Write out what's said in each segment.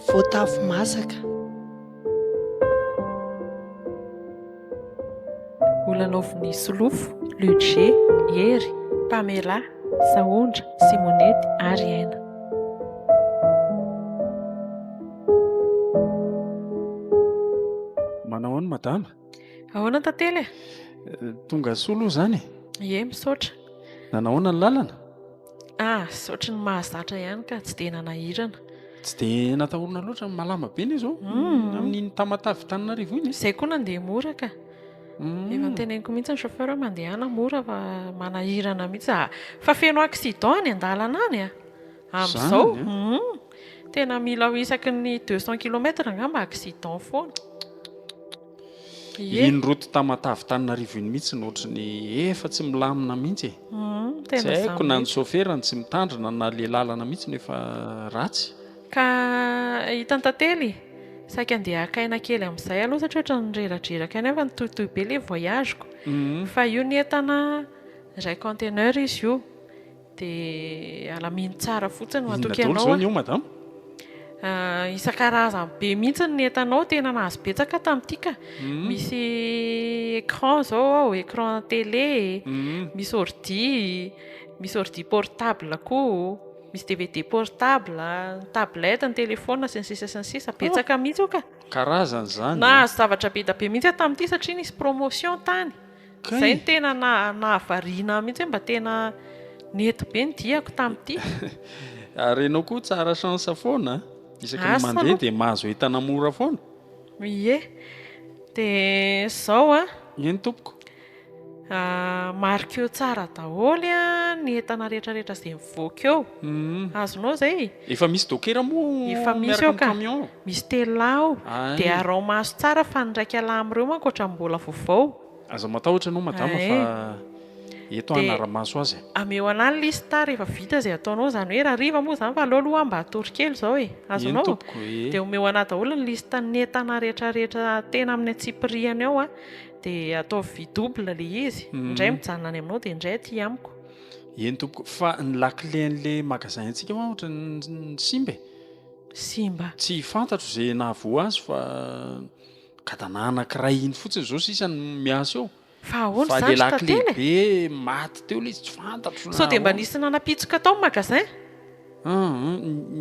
Voatavo masaka. Olanaovin'ny solofo, luce, hery, pamela, sahondra, simonety ary hena. Manao ahoana madama? Ahoana tantely e? Eh, tonga soa aloha izany e? Ie, misaotra. Nanahoana ny lalana? Ah, saotry ny mahazatra ihany ka tsy dia nanahirana. Tsy dia natahorana loatra ny malama be ny izao. Hmm. Amin'iny tamatavy taninarivo iny. Izay koa nandeha mora ka. Hmm. Efa nteneniko mihitsy ny chauffeur hoe mandehana mora fa manahirana mihitsy. Ah, fa feno accident any an-dalana any ah. Amin'izao humm tena mila aho isaky ny deux cent kilomètre angamba accident foana. Ie. Iny route Tamatave Taninarivo iny mihitsy no ohatry ny efa tsy milamina mihitsy e. Humm tena izany mihitsy. Tsy haiko na ny sofera no tsy mitandrina na le lalana mihitsy no efa ratsy. Ka hitan'i Tantely saika andeha haka aina kely amin'izay aloha satria ohatry ny reradreraka aina fa nitohitohy be le voyage-ko. Fa io ny entana iray conteneur izy io. Dia alamino tsara fotsiny no atoky anao. Inona daholo izao ny eo madama? Isan-karazany be mihitsy ny entanao, tena nahazo betsaka tamin'ity ka. Misy écran izao ao, écran télé, misy ordi, misy ordi portable koa, misy dvd portable, ny tablette, ny téléphone sy ny sisa sy ny sisa. Betsaka mihitsy io ka. Karazana izany e! Nahazo zavatra be dia be mihitsy aho tamin'ity satria nisy promotion tany. Izay no tena nahavariana ahy mihitsy hoe mba tena nety be ny diako tamin'ity. Ary ianao koa tsara chance foana an! Isaky ny mandeha dia mahazo entana mora foana. Ie. Dia izao an! Eny tompoko. Marqueo tsara daholo ny entana rehetrarehetra izay mivoaka eo. Azonao izay? Efa misy dokera moa miaraka amin'ny camion? Misy telo lahy ao. Dia araho maso tsara fa ny iraika lahy amin'ireo manko ohatran'ny mbola vaovao. Aza matahotra ianao madama fa eto aho hanara-maso azy e. Ameo ana ny liste rehefa vita izay ataonao, izany hoe rahariva moa izany fa aleo aloha aho mba hatory kely izao e. Azonao? Dia omeo ana daholo ny liste ny entana rehetra rehetra tena amin'ny antsipirihany ao dia ataovy vy double ilay izy, indray mijanona any aminao dia indray aty amiko. Eny tompoko, fa ny lakile an'ilay magasin antsika hoa ohatran'ny simba e. Simba? Tsy fantatro izay nahavoa azy fa. Gadana anakiray iny fotsiny zao sisa no miasa eo. Fa ahoana izany ry tantely e? Fa lehilahy lehibe maty teo ilay izy tsy fantatro na ahoana. Sao dia mba nisy nanapitsoka tao ny magasin? Ah,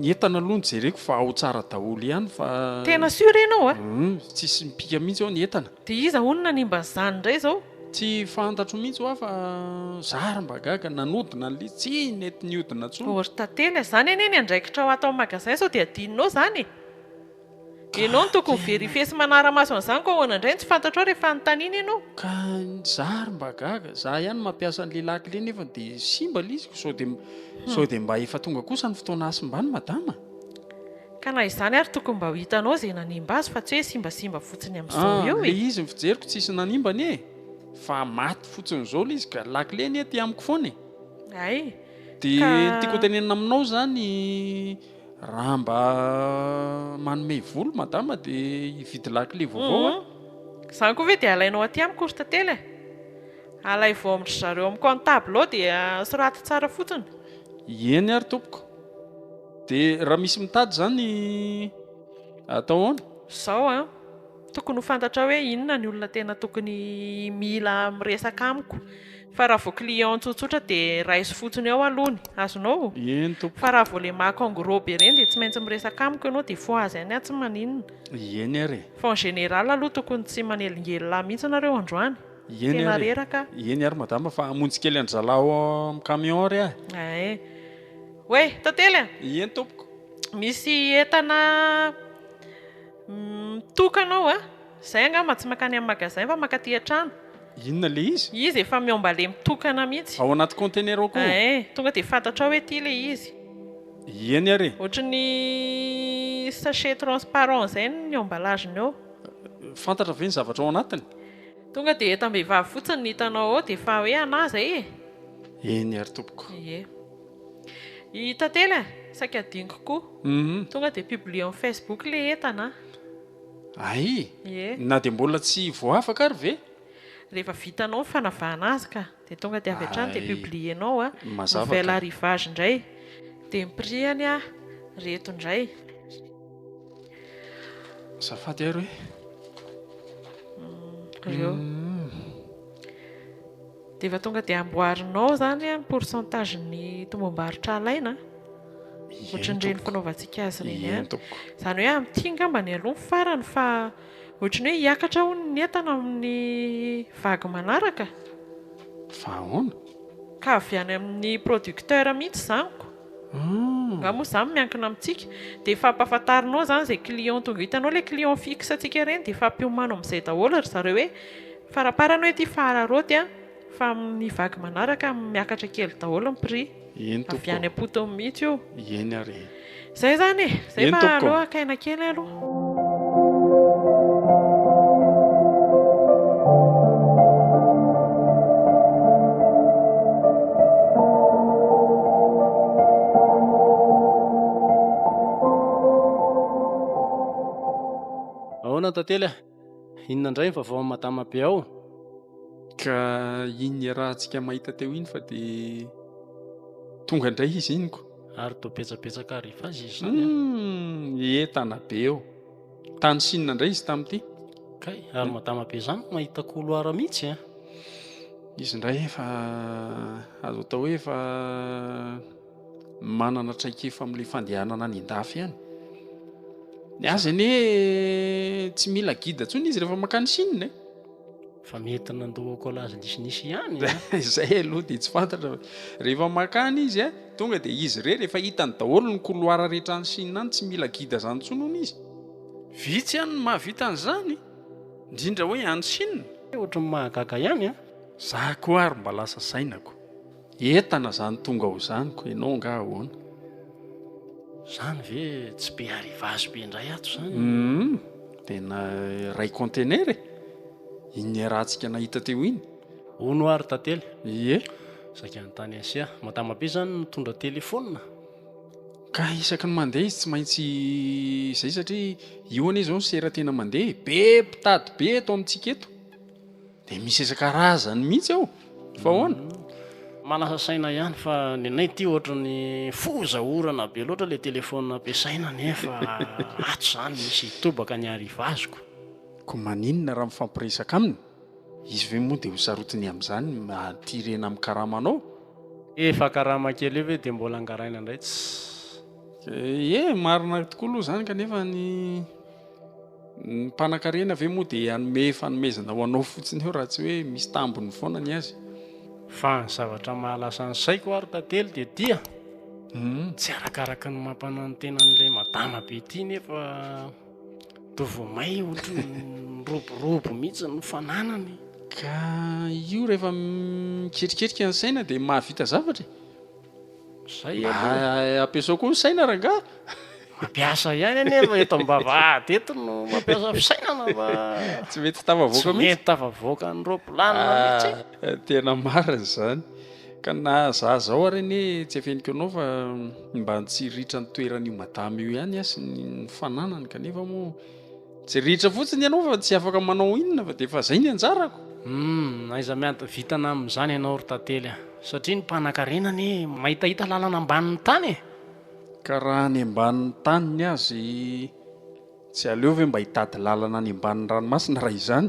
ny entana aloha nojereko fa ao tsara daholo ihany fa. Tena sûr ianao a? Humm, tsisy mipika mihitsy ao ny entana. Dia iza hono nanimba an'izany indray izao? Tsy fantatro mihitsy hoa fa za ary mba gaga, nanodina ny lisy, tsy nety nihodina intsony. Oh ry tantely a, izany anie ny andraikitrao ato amin'ny magasin sao dia adinonao izany e? Ianao no tokony verifier sy manara-maso an'izany koa ahoana indray no tsy fantatrao rehefa anontaniana ianao? Ka za ary mba gaga, za ihany mampiasa an'le lakile nefany de simba le izy, sao de sao de mba efa tonga kosa ny fotoana hasimbany madama? Ka na izany ary tokony mba ho hitanao ze nanimba azy fa tsy hoe simbasimba fotsiny amin'izao eo e! Ah, le izy ny fijeriko tsisy nanimba anie e! Fa maty fotsiny zao le izy ka, lakile anie aty amiko foana e! Hay, ka. De ny tiako hotenenina aminao zany, Raha mba manome vola madama dia hividy lakile vaovao a. Izany koa ve dia alainao aty amiko ry tantely e. Alaivo amin-dry zareo amin'ny comptable ao dia soraty tsara fotsiny. Eny ary tompoko. Dia raha misy mitady izany atao ahoana? Izao an, Tokony ho fantatrao hoe inona ny olona tena tokony mila miresaka amiko, fa raha vao client tsotsotra dia raiso fotsiny ao aloha ny azonao, Ieny tompoko. fa raha vao le mac en gros be ireny dia tsy maintsy miresaka amiko ianao dia fois azy any aho tsy maninona, Ieny ary e. fa en général aloha tokony tsy manelingelina ahy mihitsy nareo androany, Ieny tena ary e. reraka aho. Ieny ary madama fa hamonjy kely an-dry zalaho ao amin'ny camion ary aho e. Ae. Oe! Tantely a! Ieny tompoko. Misy entana. Mitokana aho a! Izay angamba tsy mankany amin'ny magasin fa mankaty an-trano. Inona ilay izy? Izy efa miômbale mitokana mihitsy. Ao anaty container ao koa? Ee, tonga dia fantatrao hoe ity ilay izy. Iany ary e! Ohatry ny sachet transparent izay ny emballage-ny eo. Fantatra ve ny zavatra ao anatiny? Tonga dia entam-behivavy fotsiny ny hitanao ao dia efa hoe anà izay e! Eny ary tompoko. Ie. I Tantely a! Saika adinoko koa. Tonga dia publier am Facebook le entana a! Aii! Ie! Na dia mbola tsy voafaka ary ve? Rehefa vitanao ny fanavahana azy ka! Dia tonga dia avy hatrany dia publier nao a! Nouvelle arrivage indray! Dia ny prix-any a! Reto indray! Azafady ary hoe. Reo. Dia efa tonga dia amboarinao izany ny pourcentage ny tombom-barotra alaina ohatran'ireny fanaovantsika azy ireny ihany. Izany hoe amin'ity ngamba ny aloha ny farany fa ohatry ny hoe hiakatra hono ny entana amin'ny vague manaraka. Fa ahoana? Ka avy any amin'ny producteur mihitsy izany ko. Nga moa izany miankina amintsika. Dia efa ampahafantarinao izany izay client tonga. Hitanao ilay client fixe antsika ireny dia efa ampiomanao amin'izay daholo ry zareo hoe. Faraparany hoe ity fahararaoty an, fa amin'ny vague manaraka miakatra kely daholo ny prix. Eny tompoko. Avy any am-potony mihitsy io. Eny ary e. Izay izany e. Izay fa aleo haka aina kely aloha. Ahoana tantely a? Inona indray ny vaovao amin'i Madama be ao? Ka iny niarahantsika mahita teo iny fa dia tonga indray izy iny ko. Ary toa betsabetsaka arrivage izy izany. Hmm, entana be eo. Tany Chine indray izy tamin'ity. Kay, ary Madama be izany no mahita couloir mihitsy eh? Izy indray efa azo atao hoe efa manana traikefa amin'ilay fandehanana any an-dafy any. Ny azy anie tsy mila gida tsony izy rehefa makany Chine. Eh. Fa mety nandoa collage nisinisy ihany. Eh. Izay aloha dia tsy fantatra. Rehefa makany izy eh, tonga dia izy re rehefa hitany daholo ny couloir rehetra any Chine any tsy mila gida zany tsony hono izy. Vitsy ihany no mahavita an'izany, indrindra hoe any Chine. Ohatran'ny mahagaga ihany eh. Za koa ary mba lasa sainako. Entana zany tonga ho zany ko enao nga ahoana? Zany ve tsy be arrivage be ndray ato zany? Humm tena iray contenaire e! Iny iarahantsika nahita teo iny. Hono ary tantely. Ie. Saika any tany Asia. Madama be zany mitondra telephone. Ka isaky ny mandeha izy tsy maintsy zay satria io anie zao ny sera tena mandeha e! Be mpitady be eto amintsika eto. Dia misy isan-karazany mihitsy ao fa ahoana? Manasa saina ihany fa ny anay ity ohatran'ny foza orana be loatra ilay téléphone ampiasaina nefa ato izany misy hitobaka ny arrivage-ko. Koa maninona raha mifampiresaka aminy? Izy ve moa dia ho sarotiny amin'izany aty rena amin'ny karamanao? Efa karama kely io ve dia mbola angaraina indray tsy. Ye, marina tokoa aloha izany kanefa ny. Ny mpanakarena ve moa dia hanome fanomezana ho anao fotsiny eo raha tsy hoe misy tambiny foana ny azy? Fa ny zavatra mahalasa ny saiko ary tantely dia dia tsy arakaraky ny mampananotena an'ilay madama be ity nefa toa vao may ohatran'ny miroborobo mihitsy ny fananany. Ka io rehefa mikerikerika ny saina dia mahavita zavatra e! Mba ampiasao koa ny saina rangahy a! Mampiasa ihany anie fa eto am-bavahady eto no mampiasa fisainana fa tsy mety tafavoaka mihitsy, tsy mety tafavoaka ny ropilanina mihitsy e! Tena marina izany ka na za zao ary anie tsy afeniko anao fa mba tsy ritra ny toeran'io madama io ihany aho sy ny fananany kanefa moa Tsy ritra fotsiny ianao fa tsy afaka manao inona fa dia efa izay ny anjarako. Humm, aiza miady vitana amin'izany ianao ry Tantely a! Satria ny mpanankarena anie mahitahita lalana ambanin'ny tany e! Ka raha any ambanin'ny taniny azy tsy aleo ve mba hitady lalana any ambanin'ny ranomasina raha izany?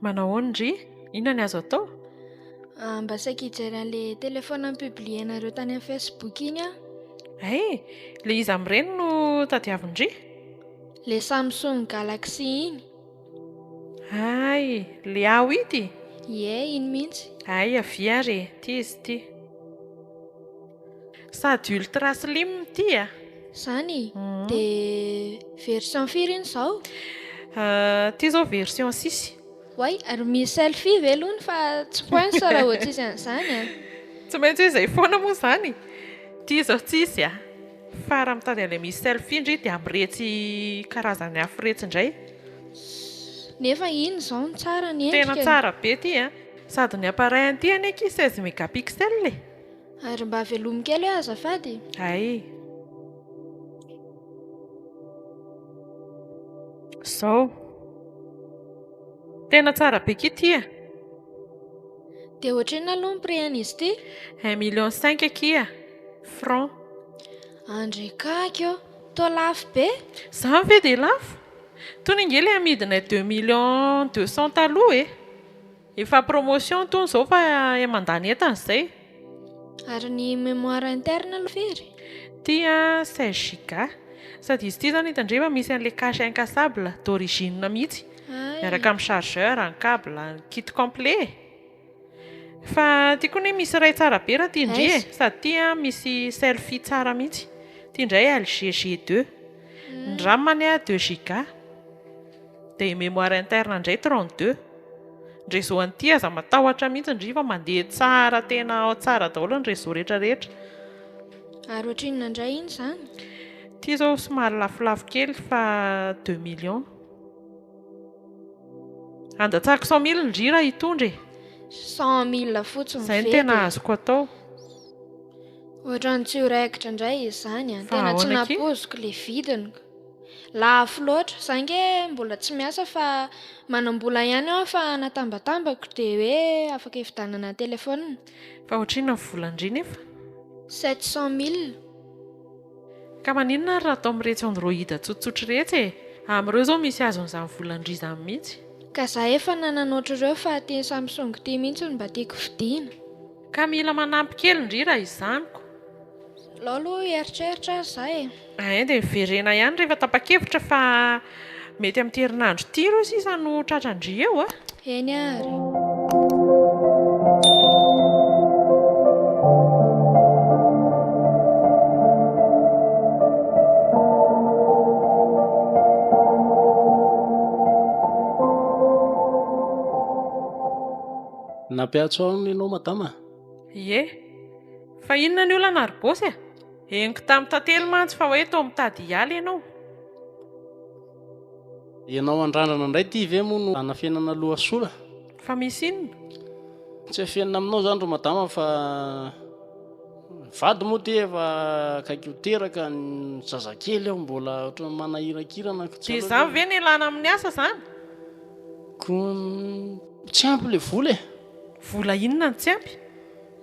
Manahoana ry? Inona ny azo atao? Ah, mba saika hijery an'ilay téléphone ni-publier-nareo tany amin'ny Facebook iny aho. Hay! Ilay iza amin'ireny no tadiavin-dry? Ilay Samsung Galaxy iny. Hay! Ilay aho ity? Ie, iny mihitsy. Hay, avia ary e! Ity izy ity. Sady ultra slim ity a! Izany? Dia version firy iny izao? Ity izao version six. Oay, ary misy selfie ve aloha ny fa tsy points raha vao tsisy an'izany a! Tsy maintsy hoe izay foana moa izany! Ity izao tsisy a! Fa raha mitady an'ilay misy selfie ndry dia amin'iretsy karazany hafa iretsy indray. Nefa iny izao no tsara ny endrika e! Tena tsara be ity a! Sady ny appareil an'ity anie akia seize megapixel e! Ary mba velomy kely hoe azafady. Hay. Zao. Tena tsara be ki ty e. Dia ohatrinona aloha ny prix an'izy ity? Un million cinq akia franc. Andry kaky ô! Toa lafo be! Izany ve dia lafo? Tony ange ilay amidinay deux millions deux cents taloha e! Efa promotion tony zao fa eh mandany entana zay. Ary ny mémoire interne aloha very? Ity a 16 giga. Sady izy ity zany hitandre fa misy an'ilay cache incassable d'origine mihitsy. Hay. Miaraka amin'ny chargeur, ny cable, ny kit complet e. Fa ity koa anie misy iray tsara be raha ity ndry e. Aiza? Sady ity a misy selfie tsara mihitsy. Ity indray LG G2. Ny ram anie a 2 giga. Dia mémoire interne indray trente deux. Ny réseau an'ity aza matahotra mihitsy ndry fa mandeha tsara tena tsara daholo ny réseau rehetra rehetra. Ary ohatrinona indray iny izany? Ity izao somary lafolafo kely fa deux millions. Handatsahako cent mille ndry raha hitondra e! Cent mille fotsiny ve dia? Izay no tena azoko atao. Ohatran'ny tsy ho raikitra indray izany an! Tena tsy nampoiziko ilay vidiny. Lafo loatra. Za nge mbola tsy miasa fa manam-bola ihany aho fa natambatambako dia hoe afaka hividanana téléphone. Fa ohatrinona ny volan-dry nefa? Sept cent mille. Ka maninona ary raha atao amin'iretsy android tsotsotra iretsy e! Amin'ireo izao misy azon'izany volan-dry izany mihitsy. Ka za efa nanana ohatr'ireo fa ity Samsung ity mihitsy no mba tiako vidiana. Ka mila manampy kely ndry raha izany ko. Alao aloha hieritreritra ary za e. Ain dia miverena ihany rehefa tapa-kevitra fa mety amin'ity herinandro ity ireo sisa no tratran-dry eo a! Eny ary. Nampiantso ahy hono ianao madama? Ie. Fa inona ny olana ry Bosy a! Henoko tamin'i Tantely mantsy fa hoe toa mitady hiala ianao. Ianao andrandrana indray ity ve moa no anafenana loha sola? Fa misy inona? Tsy afenina aminao izany ry madama fa ny vady moa ity efa akaiky ho teraka, ny zazakely ao mbola ohatran'ny manahirankirana. Dia izany ve no ialana amin'ny asa izany? Koa tsy ampy ilay vola e! Vola inona no tsy ampy?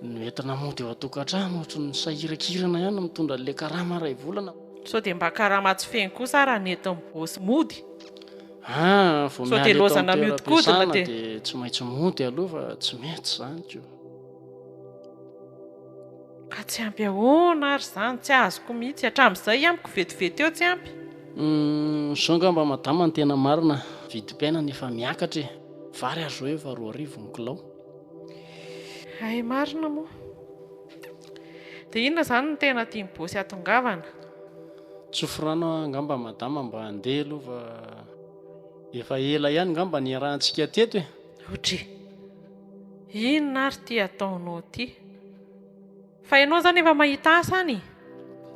Ny entana mody ao an-tokantrano ohatry ny sahiran-kirana ihany no mitondra an'ilay karama iray volana. Sao dia mba karama tsy feno kosa ary hanentin'ny bossy mody? Ah, vao miala eto amin'ny toeram-piasana dia tsy maintsy mody aloha fa tsy mety izany ko. Ka tsy ampy ahoana ary izany? Tsy azoko mihitsy. Hatramin'izay amiko vetivety eo tsy ampy. Uhm, izao angamba madama no tena marina, vidim-piainana efa miakatra e! Vary azo hoe efa roa arivo ny kilao. Hay marina moa. Dia inona izany no tena tian'i Bosy hatongavana? Tsofy rano angamba madama mba handeha aloha fa efa ela ihany angamba niarahantsika teto e. Otry! Inona ary ity ataonao ity? Fa ianao zany efa mahita asa any e!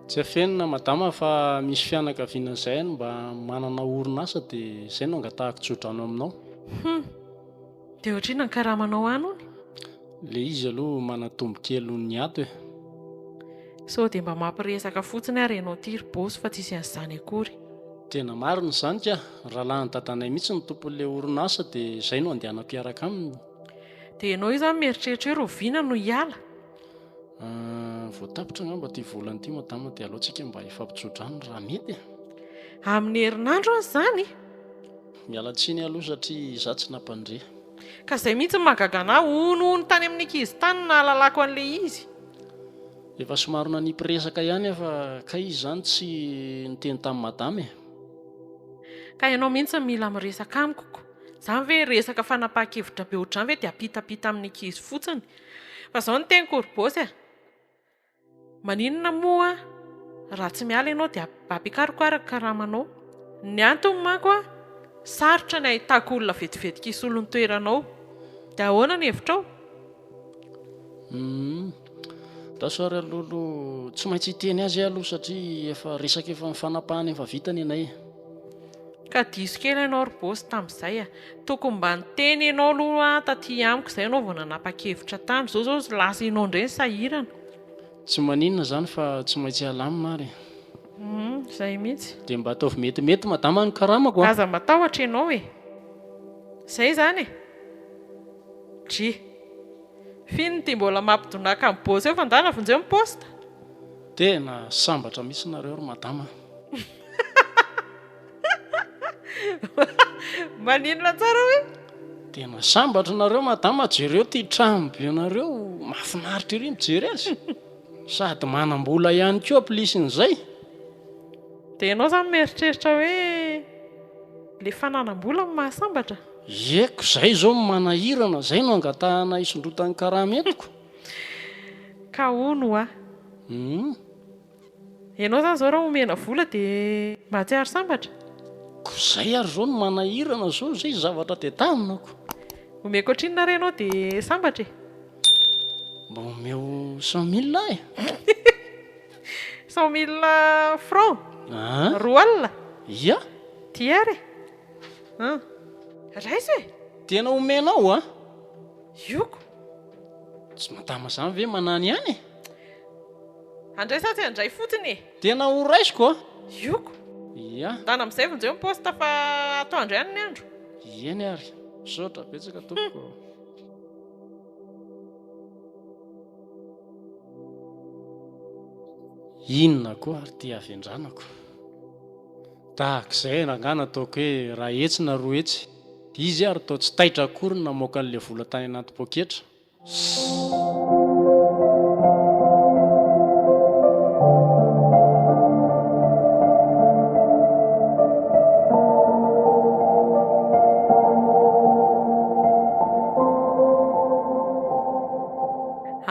Tsy afenina madama fa misy fianakaviana izay any mba manana orinasa dia izay no angatahako tsodrano aminao. Hum! Dia ohatr'inona ny karamanao any hono? Ilay izy aloha manatombo kely noho ny ato e! Sao dia mba mampiresaka fotsiny ary ianao ity ry boss fa tsisy an'izany akory. Tena marina izany kah! Rahalahin'ny dadanay mihitsy no tompon'ilay orinasa dia izay no andehanam-piaraka aminy. Dia ianao io izany mieritreritra hoe roviana no hiala? Ah, vao tapitra angamba ity volana ity madama dia alohantsika mba hifampitsodrano raha mety e. Amin'ny herinandro aza izany? Miala tsiny aloha satria izaho tsy nampandre. Ka izay mihitsy no mahagaga anà, hono hono tany amin'ny ankizy tany no nahalalako an'ilay izy. Efa somary nanipy resaka ihany aho fa kay izy izany tsy niteny tamin'i madama e. Ka ianao mihitsy no mila miresaka amiko. Zany ve resaka fanapahan-kevitra be ohatr'izany ve dia ampitapita amin'ny ankizy fotsiny? Fa izao ny teniko ry boss e, maninona moa raha tsy miala ianao dia ampiakariko ary ny karamanao? Ny antony manko sarotra ny ahitako olona vetivetika hisolo ny toeranao. Dia ahoana ny hevitrao? Rasoir Lolo tsy maintsy hiteny azy aho aloha satria efa resaka efa ny fanapahany efa vita nenay e. Ka diso kely ianao ry boss tamin'izay a! Tokony mba niteny ianao aloha taty amiko izay ianao vao nanapa-kevitra tany, izao izao lasa ianao indray no sahirana. Tsy maninona izany fa tsy maintsy alamina ary e. Humm, izay mihitsy. Dia mba ataovy metimety madama ny karamako a! Aza matahotra ianao e! Izay izany e! Dry. F'ino ity mbola mampidonaka an'i Boss eo fa ndana vonjeo ny poste. Tena sambatra mihitsy nareo ry madama a. Maninona tsara hoe? Tena sambatra nareo madama jereo ity trano be nareo mafinaritra ery mijery azy sady manambola ihany koa plisy n'izay. Dia ianao izany mieritreritra hoe ilay fananam-bola no mahasambatra? Ie ko zay zao no manahirana, zay no angatahana hisondrotan'ny karama entiko. Ka hono hoa. Humm. Ianao zany zao raha omena vola dia mahatsiaro sambatra? Ko zay ary zao no manahirana zao, zay ny zavatra tedavina ko. Omeko hatrinona ary ianao dia sambatra e? Mba omeo cent mille aho e! Cent mille francs? Aa. Roa alina? Ia. Ty ary e! An! Raisa e! Tena omenao an! Ioko! Tsy madama zany ve manany ihany e! Andray sa tsy andray fotsiny e! Tena ho raisiko an! Ioko! Ia! Ndana amin'izay vonjeo ny poste fa atoandro ihany ny andro! Eny ary! Misaotra betsaka tompoko o! Inona koa ary ity havendranako? Tahaka izay rangah nataoko hoe raha hetsy na roa hetsy izy ary toa tsy taitra akory ny namoaka an'ilay vola tany anaty poketra.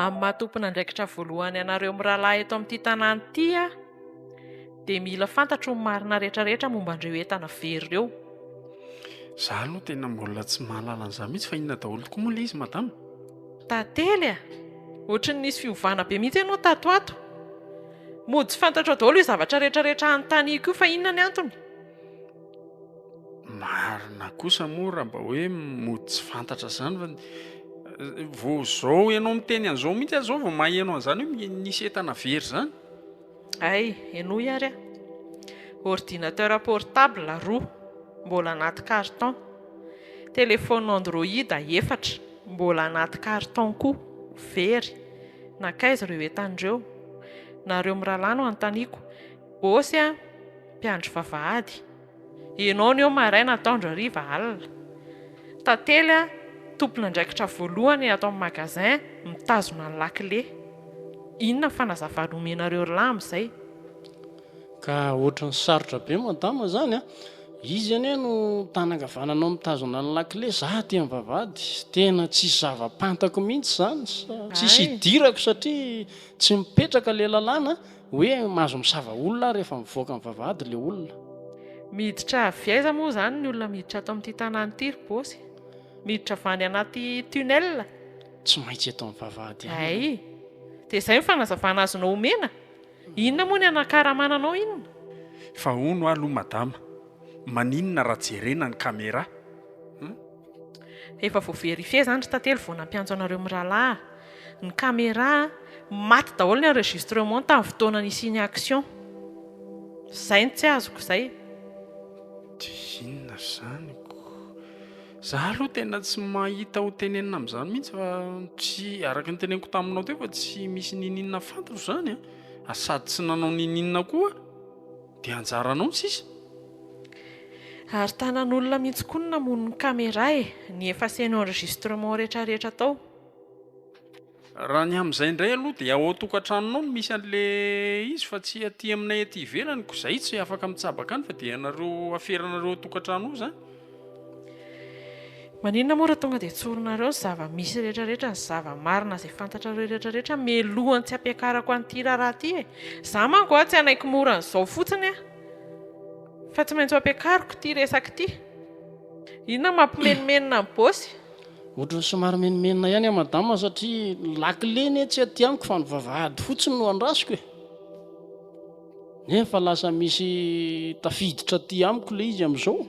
Amin'ny maha tompon'andraikitra voalohany anareo mirahalahy eto amin'ity tanàna ity aho, Dia mila fantatro ny marina rehetra rehetra momba an'ireo entana very ireo. Za aloha tena mbola tsy mahalala an'izany mihitsy fa inona daholo tokoa moa ilay izy madama? Tantely a! Ohatry ny nisy fiovana be mihitsy ianao tato ato. Mody tsy fantatrao daholo io zavatra rehetra rehetra anontaniako io fa inona ny antony? Marina kosa moa raha mba hoe mody tsy fantatra izany fa vao izao ianao miteny an'izao mihitsy aho izao vao maheno an'izany hoe misy entana very izany. Hay, henoy ary a! Ordinateur portable roa, mbola anaty carton. Téléphone Android efatra, mbola anaty carton koa, very. Nankaiza ireo entana ireo? Nareo mirahalahy no anontaniako. Ôsy a! Mpiandry vavahady. Henony eo maraina ataondro hariva alina. Tantely a, tompon'andraikitra voalohany ato amin'ny magasin mitazona ny lakile. Inona fanazavana omenareo ry lahy amin'izay? Ka ohatran'ny sarotra be madama izany a! Izy anie no tany ankavananao mitazona ny lakile, za aty amin'ny vavahady. Tena tsisy zava-pantako mihitsy izany, tsisy hidirako satria tsy mipetraka ilay lalàna. Hoe mahazo misava olona aho rehefa mivoaka ny vavahady ilay olona. Miditra avy aiza moa izany ny olona miditra ato amin'ity tanàna ity ry Bossy? Miditra avy any anaty tunnel? Tsy maintsy eto amin'ny vavahady ihany ianao. Hay! Dia izay ny fanazavana azonao omena? Inona moa ny hanakaramana anao inona? Efa hono aho aloha madama, maninona raha jerena ny camera? Efa vo verifier zany ry tantely vo nampiantso anareo miralahy Ny camera Maty daholo ny enregistrement tamin'ny fotoana nisian'ny action Zay no tsy azoko zay. Dia inona izany koa? Za aloha tena tsy mahita ho tenenina amin'izany mihitsy fa tsy, araka ny teneniko taminao teo fa tsy misy niniana fantaro izany an! sady tsy nanao niniana koa aho. Dia anjaranao sisa? Ary tanan'olona mihitsy koa no namono ny camera e! Ny effacer ny enregistrement rehetra rehetra tao. Raha ny amin'izay indray aloha dia ao an-tokantranonao no misy an'le izy fa tsy aty aminay aty ivelany ko zay tsy afaka mitsabaka any fa dia ianareo aferanareo ao an-tokantrano ao zany. Maninona moa raha tonga dia tsorinareo ny zava-misy rehetra rehetra, ny zava-marina izay fantatrareo rehetra rehetra mialohan'ny tsy ampiakarako an'ity raharaha ity e? Izaho manko a tsy hanaiky mora an'izao fotsiny aho fa tsy maintsy ho ampiakariko ity resaka ity. Inona no mampimenomenona an'i Bosy? Ohatran'ny somary menomenona ihany aho madama satria ny lakile anie tsy aty amiko fa ny vavahady fotsiny no andrasiko e! Nefa lasa misy tafiditra aty amiko le izy amizao.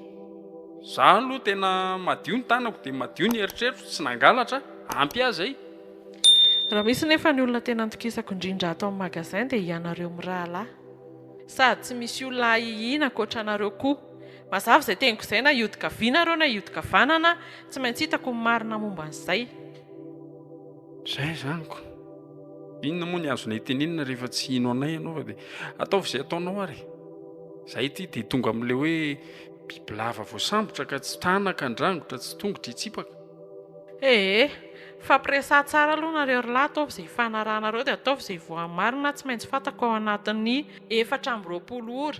Za aloha tena madio ny tanako dia madio ny eritreritro, tsy nangalatra, ampy ahy zay. Raha misy nefa ny olona tena nitokisako indrindra ato amin'ny magasin dia ianareo mirahalahy. Sady tsy misy olona ahihiana ankoatra anareo koa. Mazava izay teniko izay na hiodin-kaviana nareo na hiodin-kavanana, tsy maintsy hitako ny marina momba an'izay. Zay zany ko. Inona moa ny azonay tenenina rehefa tsy hino anay ianao fa dia ataovy izay ataonao ary. Zay ity dia tonga amin'ilay hoe bibilava voasambotra ka tsy tranaka andrangotra tsy tongotra hitsipaka. Ee, hifampiresaha tsara aloha nareo ry lahy ataovy izay hifanarahanareo dia ataovy izay voamarina tsy maintsy fantako ao anatin'ny efatra amby roapolo ora.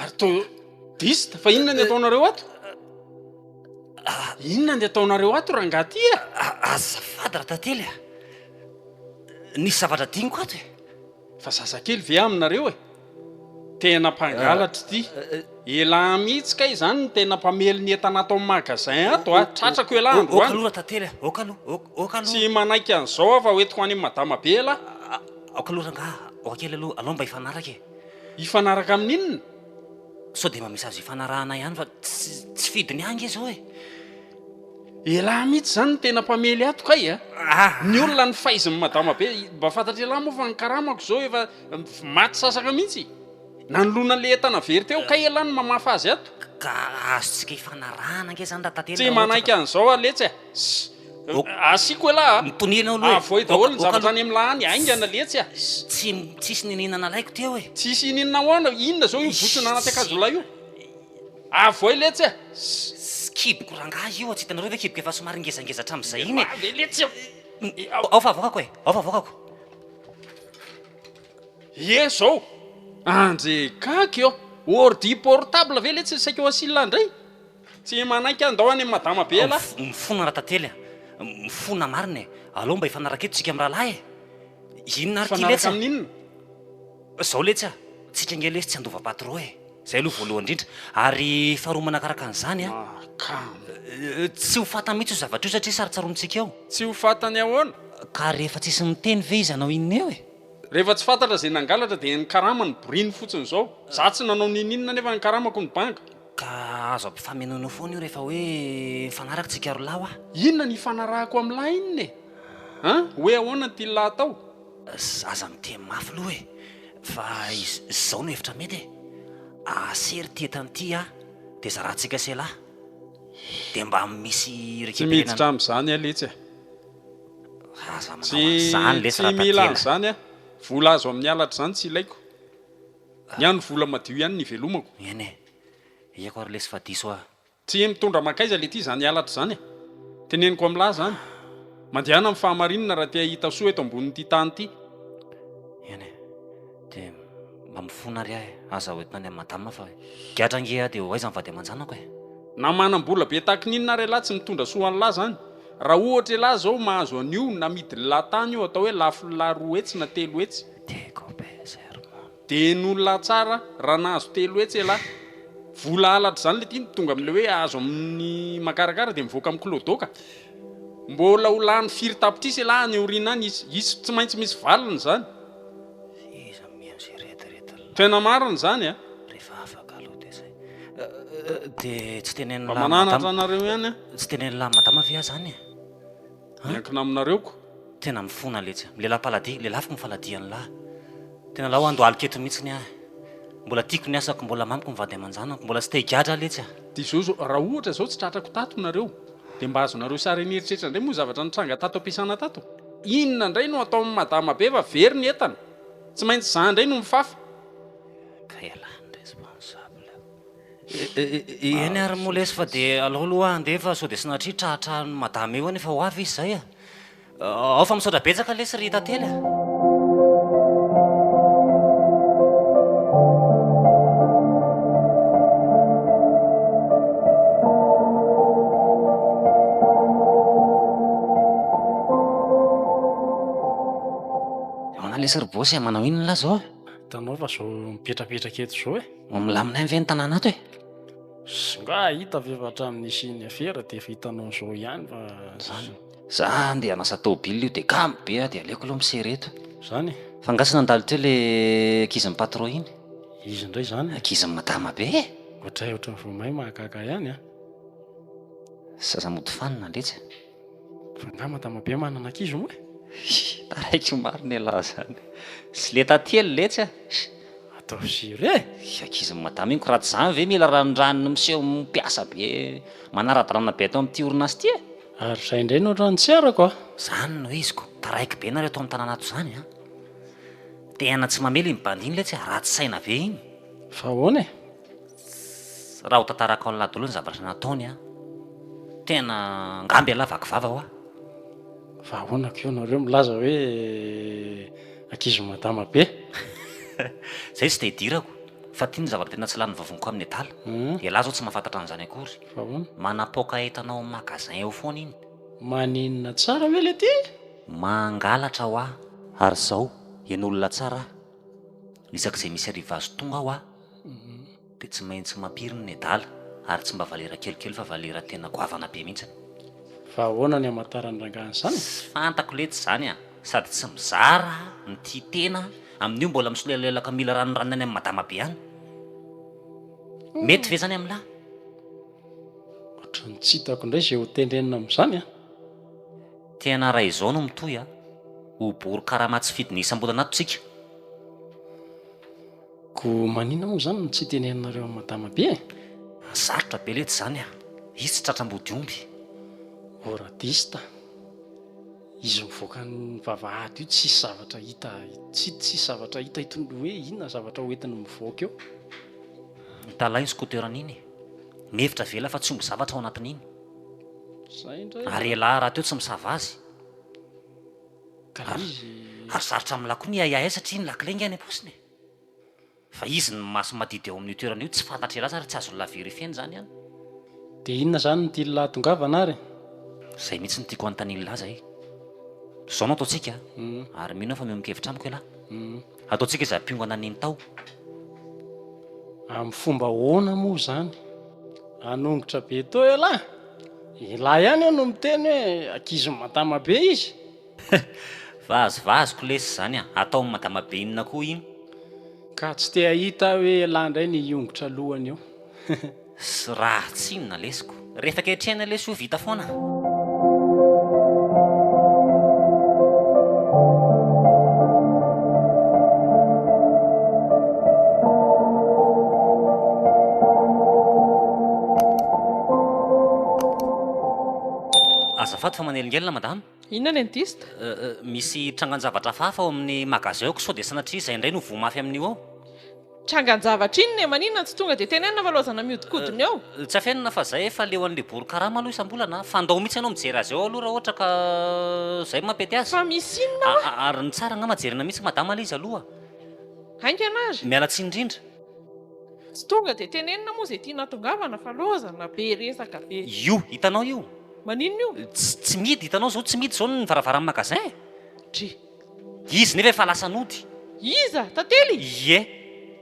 Ary to dist fa inona ny ataonareo ato inona ny ataonareo ato rangah ty e azafady ra tantely a nisy zavatra diniko ato e fa zazakely ve aminareo e tena mpangalatra ity ela mihitsy ka izany ny tena mpamely ny entana ato amin'ny magasin ato a tratrako ela andro oka aloha ra tantely a oka aloha oka aloha tsy manaiky an'izao aho fa hoentiko any madama be ela oka aloha rangah oka kely aloha alao mba hifanaraka e Hifanaraka amin'ny inona? Sao dia mba misy azo ifanarahana ihany fa tsy fidiny ange izao e! Elah mihitsy izany no tena mpamely ato kay a! Ny olona ny faizin'i madama be, mba fantatr'elah moa fa ny karamako izao efa maty sasaka mihitsy nanoloana ilay entana very teo kay elah no mamafa azy ato! Ka azontsika ifanarahana ange izany raha tately raha ohatra ka. Tsy manaiky an'izao aho letsy a! Asiako elah a! Mitoniana aloha e! Avoay daholo ny zavatra any amin'ny lahy any, haingana letsy a! Tsy, tsisy niniana nalaiko teo e! Tsisy iniana ahoana? Inona zao io botsina anaty akanjolahy io? Avoay letsy a! Tsy kiboko rangahy io a! Tsy hitanareo ve kiboko efa somary ngezangeza hatramin'izay iny e! Avia letsy a! Ao fa avoakako e! Ao fa avoakako! Ie zao! Andrekaky ô! Ordi portable ve letsy saika ho asilah ndray? Tsy manaiky an ndao any madama be elah. Mifona ratantely a! Mifona marina e! Alou mba hifanaraka eto tsika mirahalahy e! Inona ary ty letsy a! Mifanaraka amin'inona? Zao letsy a! Tsika ange lesy tsy handova patro e! Zay aloha voalohany indrindra. Ary faharoa manakaraka an'izany a! Mahakamo! Tsy ho fantany mihitsy io zavatra io satria sarotsaronintsika eo. Tsy ho fantany ahoana? Ka rehefa tsisy miteny ve izy hanao inona eo e! Rehefa tsy fantatra izay nangalatra dia ny karama no boriny fotsiny izao. Za tsy nanao n'ininona nefa ny karamako no banga. Ka azo ampifamenoanao foana io rehefa hoe mifanaraka tsika rolahy wa. Inona ny ifanarahako am lahy inona e? An? Hoe ahoana ity lahy atao? Aza miteny mafy loha e! Fa izao no hevitra mety e! Asery ity entana ity a! Dia zarantsika sy elah! Dia mba misy Tsy miditra am zany ah letsy ah! Aza manao an'izany lesy raha tatela! Tsy mila an'izany ah! Vola azo amin'ny halatra izany tsy ilaiko! Ny ahy ny vola madio ihany no ivelomako. Eny e! Ieko ary lesy fa diso aho. Tsy hay mitondra mankaiza le ty izany halatra izany e! Teneniko amin'lah izany. Mandehana amin'ny fahamarinana raha te hahita soa eto ambonin'ity tany ity. Eny e! Dia mba mifona ary aho e! Aza hoentina any amin'i madama fa giatra ange aho dia ho aiza ny vady aman-janako e! Na manam-bola be tahaka ny inona ary elah tsy mitondra soa an'lah izany. Raha ohatra elah izao mahazo an'io na midin'lah tany io atao hoe lafin'lah roa hetsy na telo hetsy. Diego be sermon. Dia ny olona tsara raha nahazo telo hetsy elah. Vola halatra izany le tiany tonga amin'ilay hoe azo amin'ny makarakara dia mivoaka miklodoka. Mbola ho lany firy tapitrisa elah any aoriana any izy. Izy tsy maintsy misy valiny izany. F'iza mihaino izay rediredy lay. Tena marina izany a. Rehefa afaka aloha dia izay. Dia tsy tenenin'lah madama. Mba mananatra anareo ihany a. Tsy tenenin'lah madama ve aho izany e. Miankina aminareo ko. Tena mifona letsy. Milelah paladia, lelafiko ny faladian'ny lahy. Tena lao ando alik'eto mitsiny ahy. Mbola tiako ny asako, mbola mamiko ny vady aman-janako, mbola tsy te-higadra letsy aho. Dia izao izao, raha ohatra izao tsy tratrako tato nareo, dia mba azonareo sary an'eritreritra indray moa zavatra nitranga tato am-piasana tato? Inona indray no atao amin'ny madama be fa very ny entana? Tsy maintsy izaho indray no mifafa. Kay ialahy ny responsable. Eny ary moa lesy fa dia alao aloha handeha fa sao dia tsy natria trahatrahan'i madama eo any efa ho avy izy izay a! Ao fa misaotra betsaka lesy ry tantely a! Ahoana lesy ry boss e, manao inona lahy izao? Hitanao fa izao mipetrapetraka eto izao e! Ho milaminay ve ny tanàna ato e? Sy nga hahita ve fa hatramin'ny nisian'ny afera dia efa hitanao izao ihany fa zany. Za andeha hanasa tôbily io dia kamo be aho dia aleoko aloha misery eto. Zany e! Fa nga tsy nandalo teo le ankizin'ny patron iny? Izy indray zany e! Ankizin'i madama be e! Ohatray ohatran'ny voamay mahakaka ihany a! Zaza mody fanina, letsy. Angaha madama be manana ankizy moa e? Taraiky marina elah zany. Tsy le taty ela letsy a! Ataovy jure e! Ry ankizin'i madama iny ko raha tsy zany ve mila ranondranony miseho mpiasa be manara-dalàna be ato amin'ity orinasa ity e! Ary zay indray no raha nitserako a! Zany no iziko, taraiky be nareo ato amin'ny tanàna ato zany a! Tehana tsy mamely iny bandy iny letsy a! Ratsy saina be iny! Fa ahoana e? Raha ho tantarako an'lah dolo ny zavatra nataony an, tena angaha mbe lah vaky vava hoa. Fa ahoana ko nareo milaza hoe ankizy madama be? Zay tsy dia idirako fa ty ny zavatra tena tsy lany vavony ko amin'ny adala. Elah zao tsy mahafantatra an'izany akory. Fa ahoana? Manapoaka entana ao amin'ny magasin eo foana iny. Maninona tsara ve le ty? Mangalatra hoa. Ary zao, eny olona tsara ah. Isak'izay misy arrivage tonga aho ah. dia tsy maintsy mampiry ny nedala ary tsy mba valera kelikely fa valera tena goavana be mihitsiny. Fa ahoana ny hamantaran'ny rangahy an'izany? Tsy fantako letsy izany a! Sady tsy mizara ny tia tena amin'io mbola misolelelaka mila ranoranony any amin'ny madama be any. Mety ve izany amin'ny lahy? Ohatran'ny tsy hitako indray izay ho tenenina amin'izany a! Tena raha izao no mitohy a! Ho bory karama tsy fidiny isam-bolana ato tsika. Ko manina mo zany no tsy teneninareo am madama be e? Sarotra be lety zany a! Izy tsy tratra ambody omby. O radista, izy mivoaka ny vavahady io tsisy zavatra hita tsy tsisy zavatra hita hitony hoe inona zavatra ho entiny mivoaka eo. Mitalahy iny scooter ny iny. Mihevitra avela fa tsy omby zavatra ao anatiny iny. Zay indray a. Ary elah raha teo tsy misava azy. Ka le izy. Ary sarotra amla koa ny hiahiahy satria ny lakile nge any am-paosiny e. Fa izy ny maso madidy eo amin'io toerana io tsy fantatry elazy ary tsy azon'la verifier-ny zany an! Dia inona izany no tian'la hahatongavana ary? Izay mihitsy no tiako hanontanian'la izay. Izao no ataontsika an! Ary mino aho fa miombon-kevitra amiko ela. Ataontsika izay mpiongana nino tao. Amin'ny fomba ahoana moa izany? Hanongotra be teo ela! Ela ihany eo no miteny hoe ankizy matama be izy. Vazovazoko lesy zany a! Ataon'i madama be inona koa iny? Ka tsy te hahita aho hoe elah ndray ny hiongotra lohany eo. Sy raha tsinona lesiko. Rehefa ketrehina lesy ho vita foana. Azafady fa manelingelina madama. Inona ny indiste? Misy trangan-javatra hafahafa ao amin'ny magasin ao ka sao dia sanatria izay indray no voa mafy amin'io ao. Trangan-javatra inona e? Maninona no tsy tonga dia tenenina fa loazana mihodinkodina eo? Tsy afenina fa izay efa leo an'ilay bory karama aloha isam-bolana a! Fandao mihitsy ianao mijery azy ao aloha raha ohatra ka izay no mampety azy. Fa misy inona ao a? Ary ny tsara angamba jerena mihitsy madama ilay izy aloha a! Haingana ary! Miala tsiny indrindra. Tsy tonga dia tenenina moa izay tiana hatongavana fa loazana be resaka be. Io hitanao io? Maninona io? Tsy tsy midy hitanao zao tsy midy zao ny varavaran'ny magasin e! Dry. Izy nefa efa lasa nody. Iza? Tantely? Ie.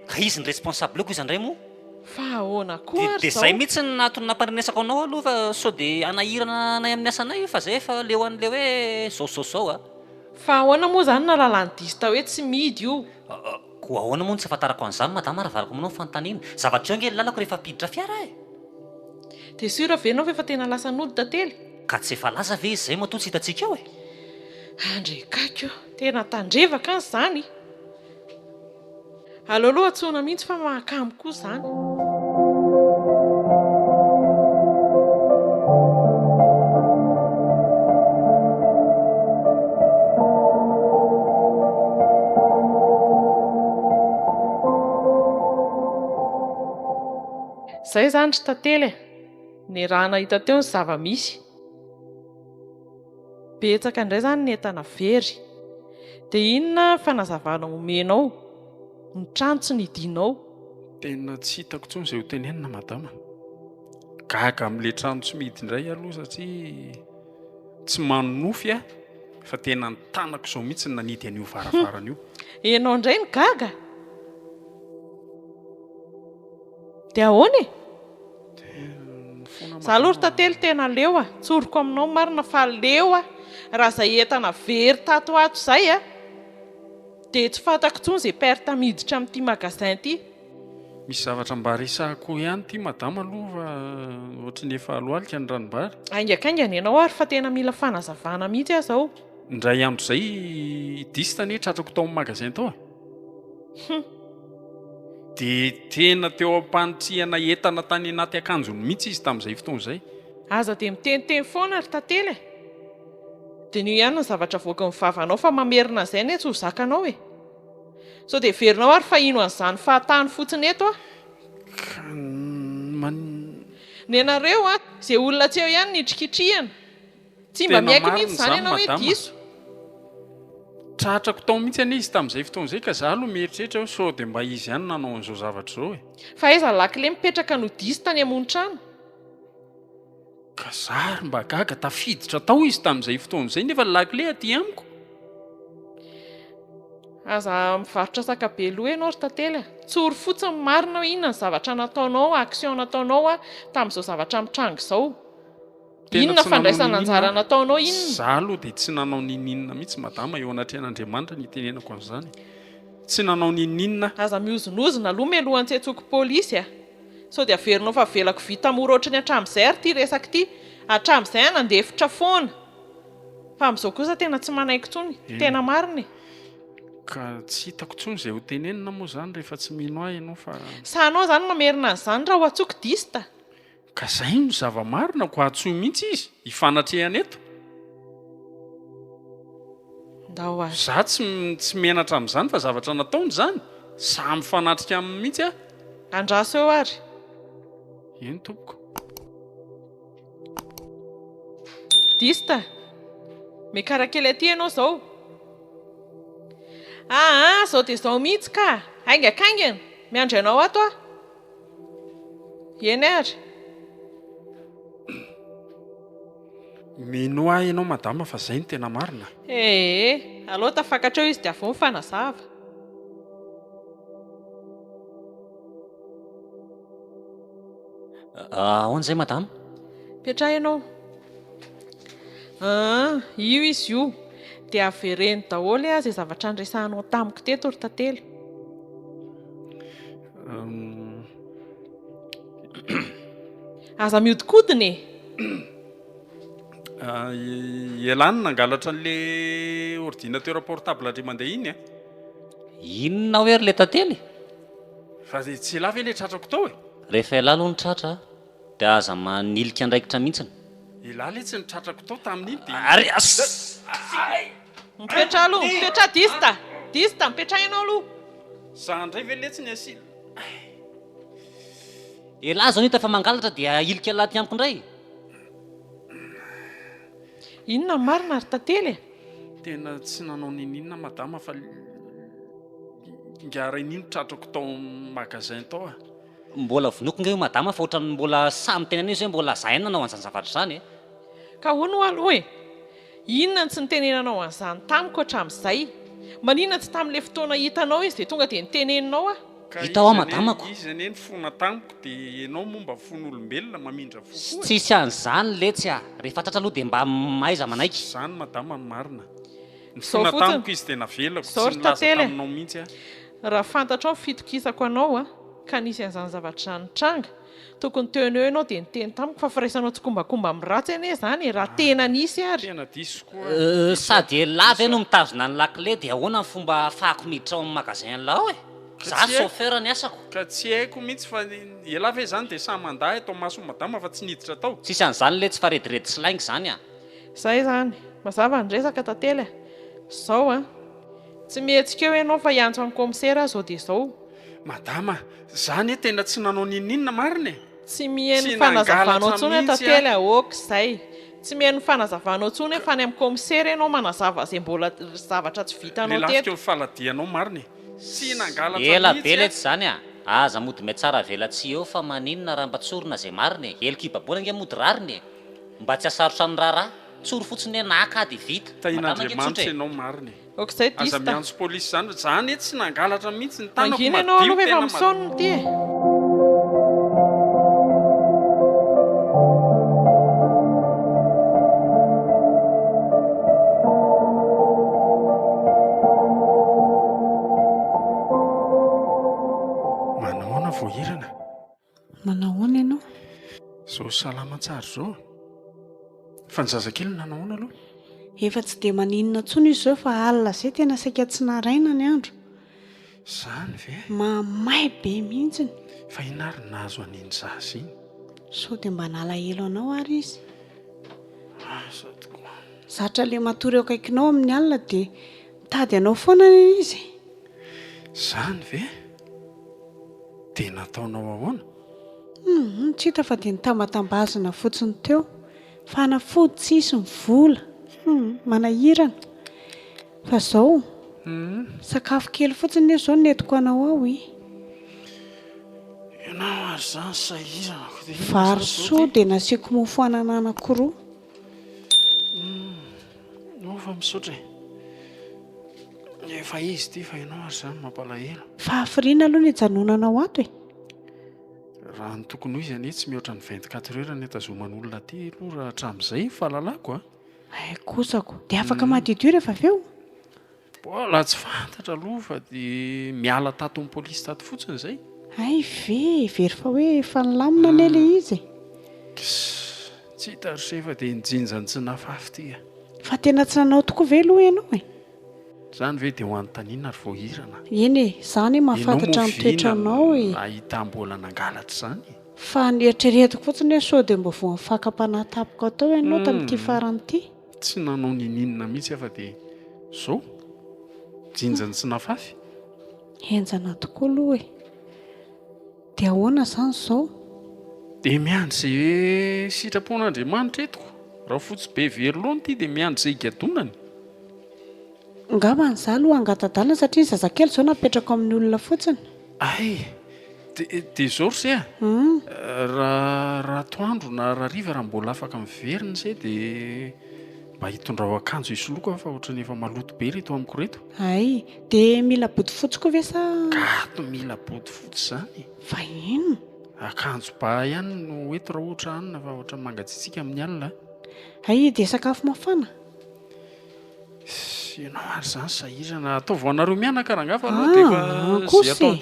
Ka izy ny responsable-ko iza ndray moa? Fa ahoana koa ary zao? Dia zay mihitsy no nahatony nampandrenesako anao aloha fa sao dia hanahirana anay amin'ny asanay io fa zay efa leo an'ilay hoe zao zao zao a! Fa ahoana moa zany nahalala ny diso tao hoe tsy midy io? Koa ahoana moa no tsy ahafantarako an'izany madama raha varako aminao ny fanontaniana? Zavatra eo ange ny lalako rehefa ampiditra fiara e! Dia sûr ve ianao fa efa tena lasa nody tantely? Ka tsy efa lasa ve izy izay matoa tsy hitantsika eo e? Andry Gaky o! Tena tandrevaka an izany! Aleo aloha antsoina mihitsy fa mahakamo koa izany! Zay zany ry tantely e! ny raha nahita teo ny zava misy, betsaka indray zany ny entana very, dia inona ny fanazavana omenao, ny trano tsy nidinao? Tena tsy hitako intsony izay ho tenenina madama a! gaga amin'ilay trano tsy mihidy indray aho aloha satria tsy manonofy aho fa tena ny tanako izao mihitsy no nanidy an'io varavarana io. Ianao indray no gaga? Dia ahoana e? Za aloha ry tantely tena leo a, tsoriko aminao marina fa leo a, raha izay entana very tato ato izay a, dia tsy fantako intsony izay perte miditra amin'ity magasin ity. Misy zavatra mba resahiko ihany ity madama aloha fa ohatry ny efa alohalika ny ranombary. Haingankaingana ianao ary fa tena mila fanazavana mihitsy aho izao. Indray andro izay i Dist anie tratrako tao amin'ny magasin tao e. Hum! Dia tena teo am-panitrihana entana tany anaty akanjony mihitsy izy tamin'izay fotoana izay. Aza dia miteniteny foana ry tantely e! Diniho ihany ny zavatra avoakin'ny vavanao fa mamerina an'izay anie tsy ho zakanao e! Sao dia heverinao ary fa hino an'izany fahatany fotsiny eto aho? Ka man. Nenareo an! Izay olona tsy eo ihany nitrikitrihina! Tsy mba miaiky mihitsy izany ianao hoe diso. Tratrako tao mihitsy anie izy tamin'izay fotoana izay ka izaho aloha mieritreritra hoe sao dia mba izy ihany no nanao an'izao zavatra izao e! Fa aiza ny lakile mipetraka no diso tany amonon-trano? Ka za ary mba gaga, tafiditra tao izy tamin'izay fotoana izay nefa ny lakile aty amiko! Aza mivarotra saka be loha ianao ry tantely a! Tsory fotsiny ny marina hoe inona ny zavatra nataonao, action nataonao, tamin'izao zavatra mitranga izao. Inona fandraisana anjara nataonao inona? Za aloha dia tsy nanao nininona mihitsy madama eo anatrehan'Andriamanitra ny itenenako an'izany. Tsy nanao nininona. Aza mihozonozona aloha mialohan'ny tsy antsoiko polisy a! Sao dia averinao fa avelako vita mora ohatry ny hatramin'izay ary ity resaka ity. Hatramin'izay aho nandefitra foana. Fa amin'izao kosa tena tsy manaiky intsony. Tena marina e! Ka tsy hitako intsony izay ho tenenina moa izany rehefa tsy mino ahy ianao fa. Sa anao izany mamerina an'izany raha ho antsoiko dista? Ka zay no zava marina ko atsoy mintsy izy hifanatrehana eto. Ndao ary. Za tsy tsy menatra amzany fa zavatra nataony zany, za mifanatrika aminy mintsy ah. Andraso eo ary. Eny tompoko. Dista, mekara kely aty ianao zao. Aa zao dia zao mihitsy ka, haingakaingana, miandry anao ato aho. Eny ary. Mino ahy ianao madama fa izay no tena marina. Ee, aleo tafakatra eo izy dia avy eo mifanazava. Ahoana izay madama? Petrahina ao. Aa, io izy io. Dia avereno daholo ee izay zavatra niresahanao tamiko teto ry tantely. aza miodikodina e ah, elany nangalatra an'le ordinateur portable dre mandeha iny a eh? inona hoe ry le tantely fa de tsy ela ve le tratrako tao e rehefa ela aloha ny tratra de aza manilika andraikitra mihitsiny ela le tsy ny tratrako tao tamin'iny de ary as Mipetraha aloha, mipetraha dista, dista, mipetraha ianao aloha. Za ndray ve letsy ny asily. Elah zao nita fa mangalatra dia ahilika laty amiko ndray. Inona ny marina ry tantely e? Tena tsy nanao nininona madama fa ngah reniny tratrako tao amin'ny magasin tao a. Mbola vonoiko ngah io madama fa ohatran'ny mbola sahy miteny an'io zay mbola za ihany nanao an'izany zavatra izany e. Ka ahoana ho'a aloha e? Inona no tsy nitenenanao an'izany tamiko hatramin'izay? Maninona tsy tamin'ilay fotoana hitanao izy dia tonga dia niteneninao aho? Ka iza anie, iza anie nifona tamiko dia ianao moa mba fony olombelona mamindra fo foana e? Tsisy an'izany letsy a! Rehefa tratra aloha dia mba mahaiza manaiky. Izany madama no marina. Nifona tamiko izy dia navelako tsy nilaza taminao mihitsy aho. Raha fantatrao ny fitokisako anao ka nisy an'izany zavatra izany nitranga Tokony teo no eo ianao dia niteny tamiko fa firaisanao tsikombakomba amin'ny ratsy anie izany e, raha tena nisy ary. Tena diso koa. Euh, sady elah ve no mitazona ny lakile dia ahoana ny fomba ahafahako miditra ao amin'ny magasin lao e? Za chauffeur ny asako. Ka tsy haiko mihitsy fa elah ve izany dia sahy mandà eto mason'i madama fa tsy niditra tao. Tsisy an'izany letsy fa rediredy sy lainga izany a! Zay izany. Mazava ny resaka tantely a! Zao an! Tsy mihetsika eo ianao fa hiantso an'i commissaire aho zao dia zao. Madama, Za anie tena tsy nanao n'inon'inona marina e! Tsy miheno ny fanazavanao intsony aho tantely a! ok izay! Tsy miheno ny fanazavanao intsony e! fa any amin'ny kaomisera ianao manazava izay mbola zavatra tsy vitanao teto! Lelafiko ny faladianao marina e! Tsy nangalatra mihitsy a! Ela be letsy izany a! Aza mody miatsara avela tsy eo fa maninona raha mba tsorina izay marina e! Heloka ibaboana ange mody rariny e! Mba tsy hasarotra ny raharaha! Tsory fotsiny hoe naka dia vita! Tahian'Andriamanitra ianao marina e! Aza miantso police izany fa za anie tsy nangalatra mihitsy ny tanako madio tena madio. Mangina ianao aloha efa misaona ity e. Manao ahoana ianao? Izao salama tsara izao a! Fa ny zazakely no nanao ahoana aloha? Efa tsy dia maninona intsony izy izao fa alina izay tena saika tsy naraina ny andro. Izany ve? Mahamay be mihitsy. Fa inona ary no nahazo an'iny zaza iny? Sao dia mba nalahelo anao ary izy? Asa tokoa. Zatra ilay matory eo akaikinao amin'ny alina dia mitady anao foana anie izy e. Izany ve? Dia nataonao ahoana? Humm tsy hita fa dia nitambatambazina fotsiny teo. Fanafody tsisy ny vola. Humm manahirana. Fa izao, sakafo kely fotsiny nefa izao no entiko anao ao e. Ianao ary izany sahirana. Vary soa dia nasiako mofo anana anakiroa. Ianao fa misaotra e. Efa izy ity fa ianao ary izany mampalahelo. Fahafiriana aloha no ijanonanao ato e. Raha ny tokony ho izy anie tsy mihoatra ny vingt quatre heures ny itazoman'olona aty aloha raha hatramin'izay ny fahalalako a. Hay kosako. Dia afaka madiodio rehefa avy eo? Mbola tsy fantatra aloha fa dia miala tato amin'ny polisy tato fotsiny izay. Hay ve, very fa hoe efa nilamina anie ilay izy e! Tsy hita ry se fa dia ny jinjan'i Tsinafafy ity a! Fa tena tsy nanao tokoa ve aloha ianao e? Izany ve dia ho anontaniana ary vao hirana a! Eny e, izaho anie mahafantatra ny toetranao e! Ianao moa ve inona no nahita mbola nangalatra izany e? Fa ny eritreretiko fotsiny hoe sao dia mba voan'ny fakam-panahy tampoka tao ianao tamin'ity farany ity? Tsy nanao nininona mihitsy aho fa dia izao, jinjany tsy nafafy. Henjana tokoa aloha e. Dia ahoana izany izao? Dia miandry izay sitrapon'Andriamanitra eto koa. Rafotsy be very loha ity dia miandry izay higadonany. Angambany izaho aloha hangatadalina satria ny zazakely izao napetrako amin'ny olona fotsiny. Ay! Dia izao ry se a! Raha atoandro na raha hariva raha mbola afaka miverina ry se dia mba hitondrao akanjo hisoloako aho fa ohatran'ny efa maloto be ireto amiko ireto. Ay! Dia mila bodofotsy koa ve sa? Gato mila bodofotsy izany e! Fa inona? Akanjo ba ihany no ho eto raha ohatra hanina fa ohatran'ny mangatsiatsiaka amin'ny alina a! Ay! Dia sakafo mafana? Ianao ary izany sahirana. Ataovy ho anareo mianaka rangahy fa aleo dia efa izay atao.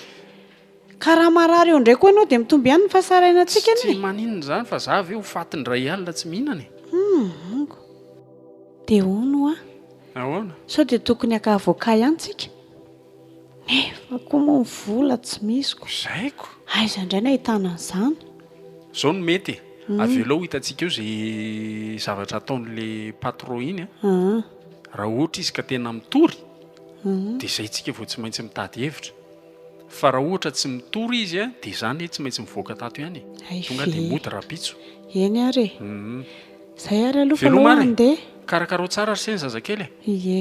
Ka raha marary eo indray koa ianao dia mitombo ihany ny fahasarainantsika anie. Tsy maninona izany fa za ve ho faty indray alina tsy mihinana e. Amiko. Dia hono hoa. Ahoana? Sao dia tokony haka avocat ihany tsika? Nefa koa moa ny vola tsy misy ko. Zay ko. Aiza indray no ahitana an'izany. Zao no mety e, avelao hitantsika eo ze zavatra ataon'le patron iny a, raha ohatra izy ka tena mitory de zay tsika vao tsy maintsy mitady hevitra, fa raha ohatra tsy mitory izy a de za anie tsy maintsy mivoaka tato ihany e, tonga de mody rapitso. Eny ary e. Zay ary aloha fa aloha handeha. Veloma ary e. Karakarao tsara ry se ny zazakely e. Ie.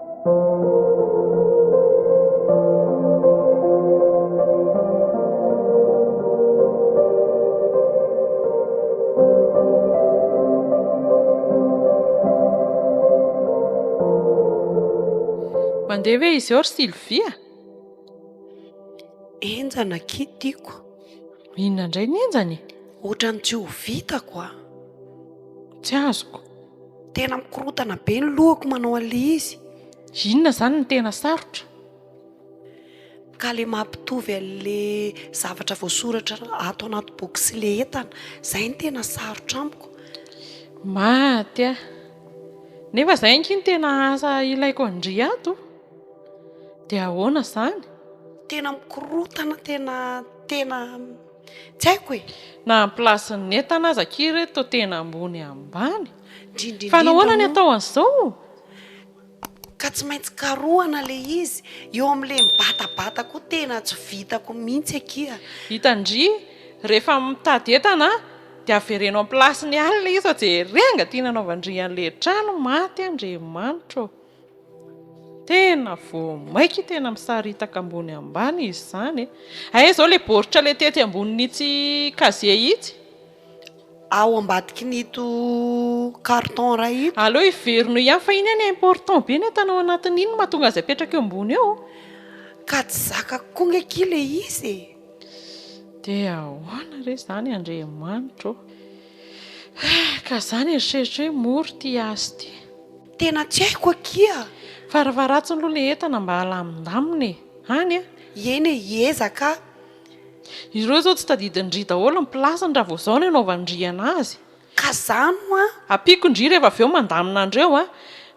Mandeha ve izy eo ry Sylvia? Enjana akia tiako. Inona indray ny enjana e? Ohatran'ny tsy ho vitako a! Tsy azoko. Tena mikorotana be ny lohako manao an'ilay izy. Inona izany no tena sarotra? Ka ilay mampitovy an'ilay zavatra voasoratra ato anaty boky sy ilay entana, izay no tena sarotra amiko. Maty ah! Nefa izay ange no tena asa ilaiko an-dry ato. Dia ahoana izany? Tena mikorotana, tena, tena. Tsy haiko e! Na ny place ny entana aza akia re toa tena ambony ambany! Fa nahoana ny atao an'izao? Ka tsy maintsy karohana le izy! Eo amin'le mibatabata koa tena tsy vitako mihitsy akia! Hita ndry! Rehefa mitady entana dia avereno am-place-ny ihany le izy fa jereo angaha tiana anaovan-dry an'le trano maty Andriamanitra ô! Tena vo maika tena misaritaka ambony ambany izy izany e! Hay izao ilay baoritra ilay tety ambonin'itsy casier itsy? Ao ambadikin'ito carton iray ito. Aleo hiverino ihany fa iny anie important be ny entana ao anatiny iny no mahatonga azy apetraka eo ambony eo. Ka tsy zakako koa nge ki le izy e! Dia ahoana re izany Andriamanitra ô! Ka za nieritreritra hoe mora ity azy ity. Tena tsy haiko akia. Fa rvaratsy aloha le entana mba alamindamina e! any a! Ieny e, hiezaka aho. Ireo zao tsy tadidin-dry daholo ny place-ny raha vao zao no anaovan-dry anazy. Ka zany hoa. Ampiako ndry rehefa avy eo mandamina andreo a!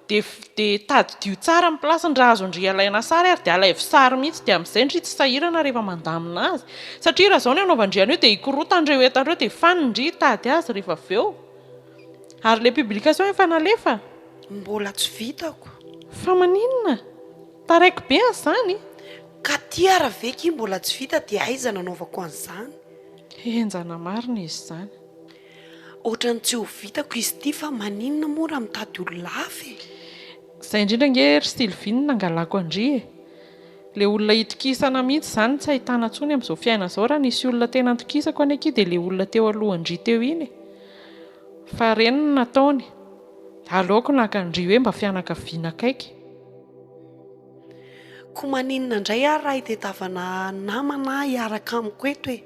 dia dia tadidio tsara ny place-ny raha azon-dry alaina sary ary dia alaivo sary mihitsy dia amin'izay ndry tsy sahirana rehefa mandamina azy satria raha zao no anaovan-dry an'io dia hikorotan-dreo entana reo dia fany ndry hitady azy rehefa avy eo. Ary le publication efa nalefa? Mbola tsy vitako. Fa maninona? Taraiky be an zany? Ka tiara ve ki mbola tsy vita dia aiza nanaovako an'izany? Henjana marina izy izany. Otrany tsy ho vitako izy ity fa maninona moa raha mitady olona hafa e? Zay indrindra ange ry Sylvie no nangalako an-dry e! Le olona hitokisana mihitsy zany no tsy ahitana intsony amin'izao fiainana izao, raha nisy olona tena nitokisako anie ki dia le olona teo alohan-dry teo iny e! Fa ireny no nataony. Aleoko naka an-dry hoe mba fianakaviana akaiky. Koa maninona indray ary raha itedavana namana hiaraka amiko eto e?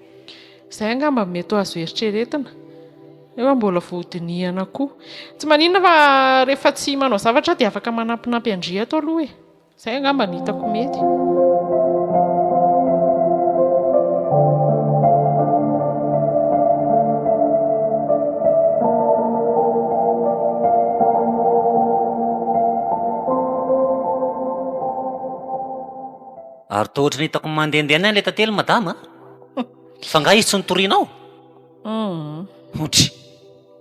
Izay angamba no mety ho azo eritreretina, nefa mbola vao hodinihana koa. Tsy maninona fa rehefa tsy manao zavatra aho dia afaka manampinampy an-dry ato aloha e. Izay angamba no hitako mety. Ary toa ohatran'ny hitako mandehandeha any ilay tantely madama a! Fa nga izy tsy notorianao? hmm. otry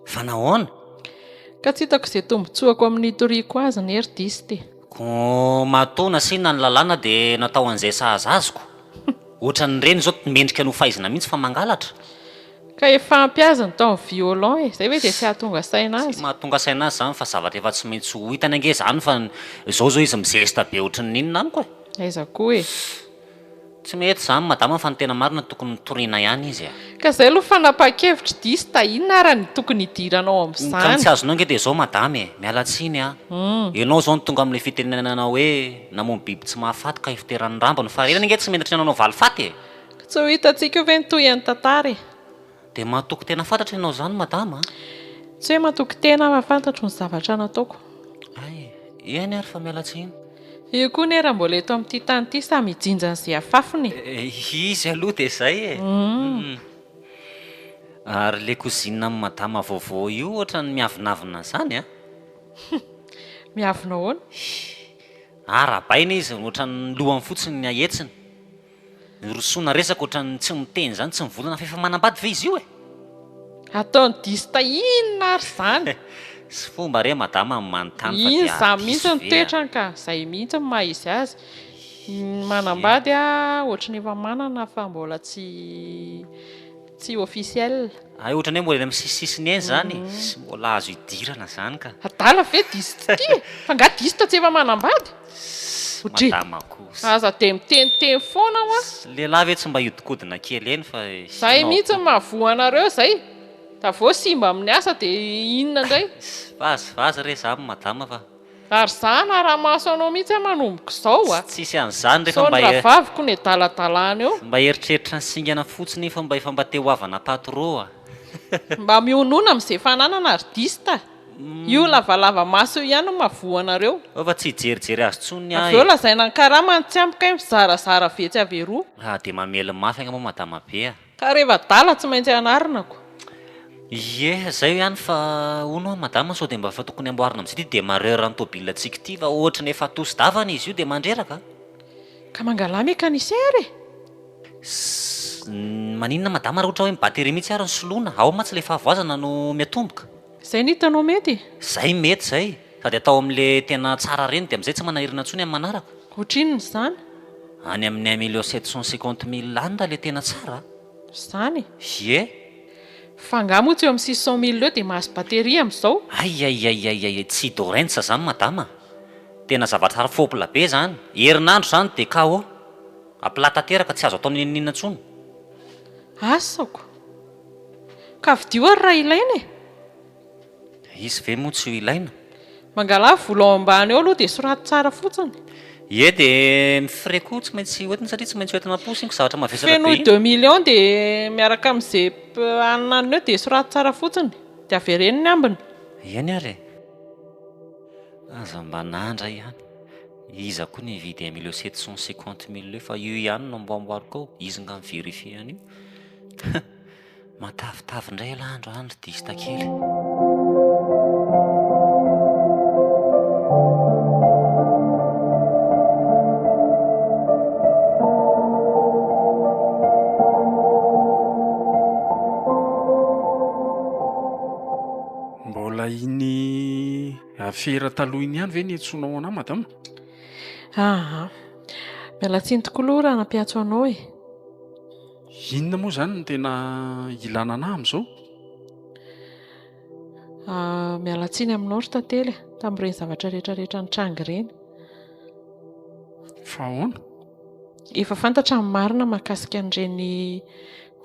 fa nahoana ka tsy hitako izay tombotsoako amin'ny toriako azy ny hery diste ko matoa nasiana ny lalàna dia natao an'izay sahaza azoko ohatra ny reny izao mendrika no faizina mihitsy fa mangalatra ka efa ampy azy ny taon'ny violon e izay hoe dia tsy hahatonga saina azy mahatonga saina azy izany fa zavatra efa tsy maintsy ho hitany ange izany fa izao izao izy mizesta be ohatry ny inona amiko e aiza koa e Tsy mety zany madama fa ny tena marina tokony mitoriana ihany izy a. Ka zay lo fanapakevitry diso ta inona ara ny tokony hidirana ao am zany. Ka ny tsy azonao nge de zao madama e, miala tsiny a, enao zao no tonga amle fitenenana oe namono biby tsy mahafaty ka ifoteran'ny rambony fa reny ange tsy mendrika nanao valifaty e. Ka tsy ho hitantsika eo ve ny tohian'ny tantara e. Dia matoky tena fantatro ianao izany madama a! Tsy hoe matoky tena fa fantatro ny zavatra nataoko. Hay e! Eny ary fa miala tsiny. Io koa anie raha mbola eto amin'ity tany ity samy hijinja an'izay afafiny e! Izy aloha dia izay e! Ary ilay cousine an'i madama vaovao io ohatran'ny miavonavona an'izany a! Miavona ahoana? Arahabaina izy, ohatran'ny lohany fotsiny no ahetsiny. Nirosoana resaka ohatran'ny tsy miteny izany tsy mivolana f'efa manambady ve izy io e? Ataony diso ta inona ary izany? Tsy fomba re madama ny manontany fa dia diso ve? Inona mihitsy ny toetrany ka? Izay mihitsy no maha izy azy. Ny manambady ohatry ny efa manana fa mbola tsy. Tsy officiel. Hay otrany hoe mbola eny am sisisisiny eny zany e, tsy mbola azo idirana zany ka. Adala ve diso tsy tia e? Fa nga diso tsy efa manambady? Sy madama kosa. Aza dia miteniteny foana hoa. Sy lehilahy ve tsy mba hiodikodina kely eny fa izay no ampoko. Zay mihitsy no mahavoa anareo zay da vao simba amin'ny asa dia inona indray. Vazivazy re zany madama fa. Ary za hanara-maso anao mihitsy an manomboka izao a! Tsisy an'izany re fa mba e. Sao ny ravaviko no edalatalana eo. Mba eritreritra ny singana fotsiny fa mba efa mba te ho havana tato rô a! Mba mihonona amin'izay fananana ary dista a! Io lavalava maso io ihany no mahavoa anareo. Fa fa tsy hijerijery azy tsony ny ahy e! Avy eo lazaina ny karama ny tsy ampy kay mizarazara vetsy avy eroa. Dia mamely mafy angamba madama be a! Ka reva adala tsy maintsy anarina ko. Ie, zay ihany fa hono hoa madama sao dia mba efa tokony amboarina amin'izay ity demarreur an'ny tôbile antsika ity fa ohatrany efa atosy davana izy io dia mandreraka a! Ka mangalà mécanicien e! Ss, maninona madama raha ohatra hoe ny batterie mihitsy ary no soloina, ao mantsy ilay fahavoazana no miatomboka. Zay no hitanao mety e? Zay mety zay, sady atao amin'le tena tsara reny de amzay tsy manahirana tsony amin'ny manaraka. Otrinona izany? Any amin'ny un million sept cent cinquante mille any ra le tena tsara a! Zany e! Ie! Fa nga moa tsy eo amin'ny six cent mille eo de mahazo batterie amzao? Aiaiaiaiaiai! Tsy Dorensa zany madama a! Tena zavatra hafa fôpla be zany! Herinandro zany de KO! A plat tanteraka, tsy azo atao n'inon'inona tsony! Asako! Ka vidio ary raha ilaina e! Dia izy ve moa tsy ho ilaina? Mangalà vola ao ambany ao aloha dia soraty tsara fotsiny. Ie dia ny frais koa tsy maintsy hoentina satria tsy maintsy hoentina am-posiko zavatra mavesatra be iny. Fenoy deux millions dia miaraka amin'izay hanana an'ireo dia soraty tsara fotsiny dia avereno ny ambiny. Eny ary e! Aza mba nandra ihany. Iza koa no hividy un million sept cent cinquante mille eo fa io ihany no amboamboariko ao, izy nga mi-verifier an'io? Matavitavy indray elah andro an ry dista kely. Mbola iny afera taloha iny ihany ve ny antsoinao anah madama? Aha, miala tsiny tokoa aloha raha nampiantso anao e. Inona moa izany no tena ilana anah amin'izao? Ah, miala tsiny aminao ry tantely ah, tamin'ireny zavatra rehetra rehetra nitranga ireny. Fa ahoana? Efa fantatra ny marina mahakasika an'ireny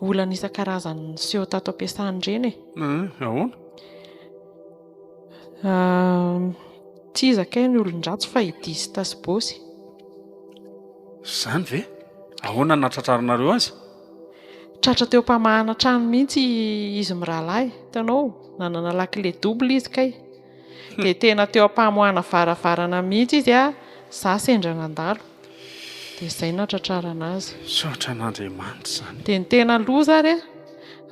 olana isan-karazany niseho tato am-piasana ireny e. Eh, ahoana? Tsy iza kay no olon-dratsy fa i Dista sy Bosy. Izany ve? Ahoana no nahatratraranareo azy? Tratra teo am-pamahana trano mihitsy izy mirahalahy. Hitanao, nanana lakile double izy kay. Dia tena teo am-pamoahana varavarana mihitsy izy, izaho sendra nandalo. Dia izay natratrarana azy. Misaotra an'Andriamanitra izany. Dia ny tena loza ary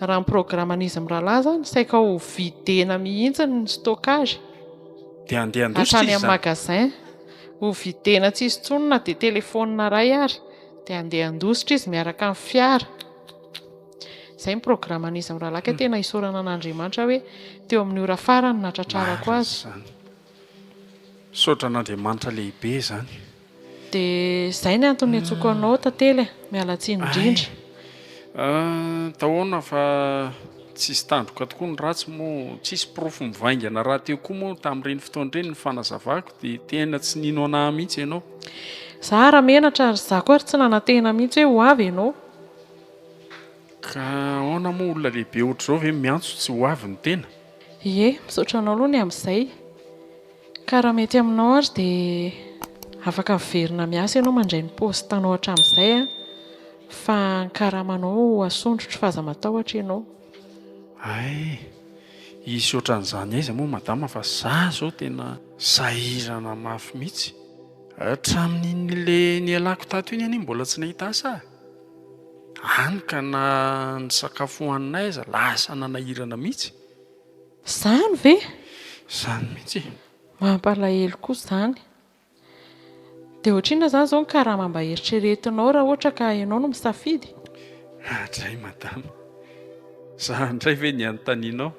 raha ny programan'izy mirahalahy izany saika ho videna mihitsy ny stockage. Dia handeha handositra izy izany. Hatrany amin'ny magasin. Ho videna tsy hisy intsony na dia telefaonina iray ary. Dia handeha handositra izy miaraka amin'ny fiara. Izay ny programan'izy mirahalahy ka tena isaorana an'Andriamanitra hoe teo amin'ny ora farany natratrarako azy. Misaotra an'Andriamanitra lehibe izany. Dia izay ny antony niantsoako anao tantely e! Miala tsiny indrindra. Hay tahoana fa tsisy tandroka tokoa ny ratsy moa tsisy porofo mivaingana rahateo koa moa tamin'ireny fotoana ireny ny fanazavako dia tena tsy nino anah mihitsy ianao. Za ary menatra ary za koa ary tsy nanantena mihitsy hoe ho avy ianao. Ka ahoana moa olona lehibe ohatr'izao ve miantso tsy ho avy ny tena? Ie, misaotra anao aloha ny amin'izay. Ka raha mety aminao ary dia afaka miverina miasa ianao mandray ny poste anao hatramin'izay an, fa ny karamanao ho asondrotro fa aza matahotra ianao. Hay, hisy ohatran'izany aiza moa madama fa za zao tena sahirana mafy mihitsy. Hatramin'iny le nialako tato iny anie mbola tsy nahita asa ah. any ka na ny sakafo hohaninay aza lasa nanahirana mihitsy. Izany ve? Izany mihitsy e! Mampalahelo koa izany. Dia ohatrinona izany izao ny karama mba heritreretinao raha ohatra ka ianao no misafidy? Mahadray madama. Za indray ve ny anontanianao?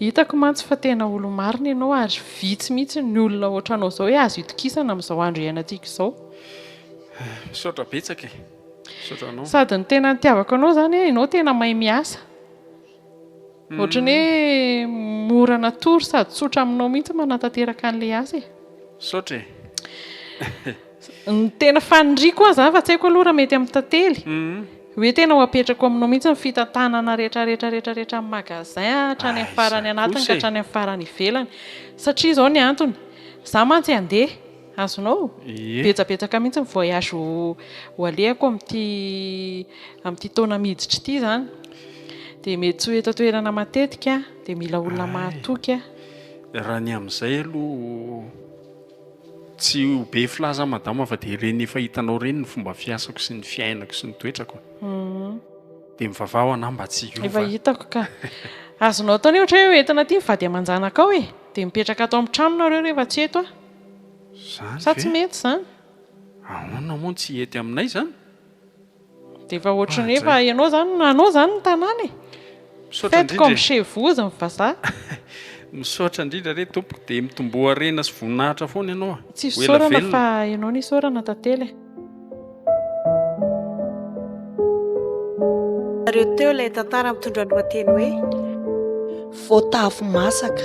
Hitako mantsy fa tena olo-marina ianao ary vitsy mihitsy ny olona ohatranao izao hoe azo itokisana amin'izao andro iainantsika izao. Misaotra betsaka e! Misaotra anao. Sady ny tena nitiavako anao izany hoe ianao tena mahay miasa. Ohatran'ny hoe mora natoro sady tsotra aminao mihitsy ny manatanteraka an'ilay asa e! Misaotra e! Ny tena faniriako aza, fa tsy haiko aloha raha mety amin'ny tantely, hoe tena ho apetrako aminao mihitsy ny fitantanana rehetra rehetra rehetra rehetra amin'ny magasin hatrany amin'ny farany anatiny ka hatrany amin'ny farany ivelany. Satria izao ny antony, izaho mantsy handeha, azonao? Betsabetsaka mihitsy ny voyage ho alehako amin'ity amin'ity taona miditra ity izany. Dia mety tsy ho eto an-toerana matetika aho, dia mila olona mahatoky aho. Raha ny amin'izay aloha. Tsy ho be filaza aho madama fa dia ireny efa hitanao ireny ny fomba fiasako sy ny fiainako sy ny toetrako dia mivavaha ho anah mba tsy hiova. Efa hitako ka. Azonao atao anie ohatra hoe entina aty ny vady aman-janakao e, dia mipetraka ato amin'ny trano nareo rehefa tsy eto aho. Sa tsy mety izany? Ahoana moa no tsy hety aminay izany? Dia efa ohatry ny efa ianao izany no anao izany ny tanàna e. Faites comme chez vous ny vazaha. Misaotra indrindra re tompoko dia mitomboa harena sy voninahitra foana ianao a. Tsy fisaorana fa ianao no isaorana tantely e. Nareo teo ilay tantara mitondra ny lohateny hoe Voatavo masaka.